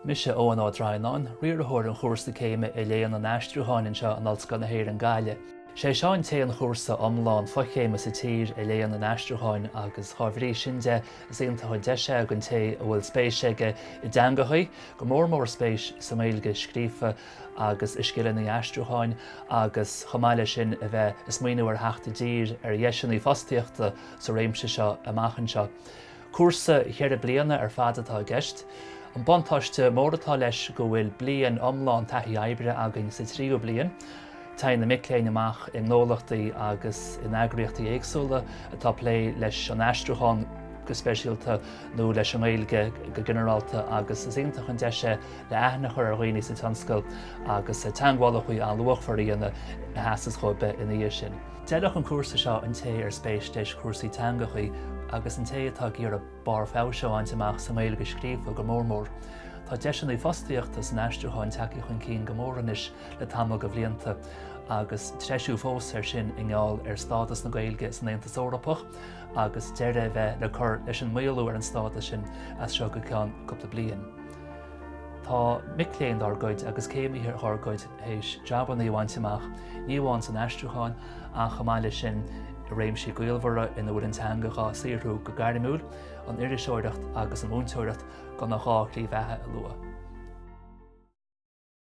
Mise Eoghan Ó Droighneáin, Riarthóir an Chúrsa Céime i Léann an Aistriúcháin anseo in Ollscoil na hÉireann Gaillimh. Is é seo an t-aon chúrsa iomlán fochéime sa tír i Léann an Aistriúcháin agus dá bhrí sin de is iontach an deis é don té a bhfuil spéis aige i dteangacha, go mór mór spéis sa nGaeilge scríofa agus i scileanna aistriúcháin agus chomh maith leis sin a bheith ag smaoineamh ar theacht i dtír ar dheiseanna fostaíochta sa réimse seo amach anseo. Cúrsa ceithre bliana ar fad atá i gceist. An buntáiste mór atá leis go bhfuil bliain iomlán taithí oibre againn sa tríú bliain. Téann na mic léinn amach i ngnólachtaí agus in eagraíochtaí éagsúla atá ag plé leis an aistriúchán go speisialta nó leis an nGaeilge go ginearálta agus is iontach an deis é le aithne a chur ar dhaoine sa tionscal agus teagmhálacha an-luachmhara a dhéanamh a sheasfas dhóibh ina dhiaidh sin. D'fheilfeadh an cúrsa seo an té ar spéis leis cúrsaí teangachaí agus an té atá ag iarraidh barr feabhais a bhaint amach sa nGaeilge scríofa go mór mór. Tá deiseanna fostaíochta san aistriúchán tagtha chun cinn go mór anois le tamall de bhlianta agus treisiú fós ar sin i ngeall ar stádas na Gaeilge san Aontas Eorpach agus deireadh a bheith le cur leis an maolú ar an stádas sin as seo go ceann cúpla bliain. Tá mic léinn dár gcuid agus céimithe dhár gcuid, th'éis jabanna a bhaint amach, ní amháin san aistriúchán ach chomh maith leis sin i réimsí gaolmhara ina bhfuil an teanga dhá saothrú go gairmiúil, an iriseoireacht agus an mhúinteoireacht, gan ach dhá shlí bheatha a lua.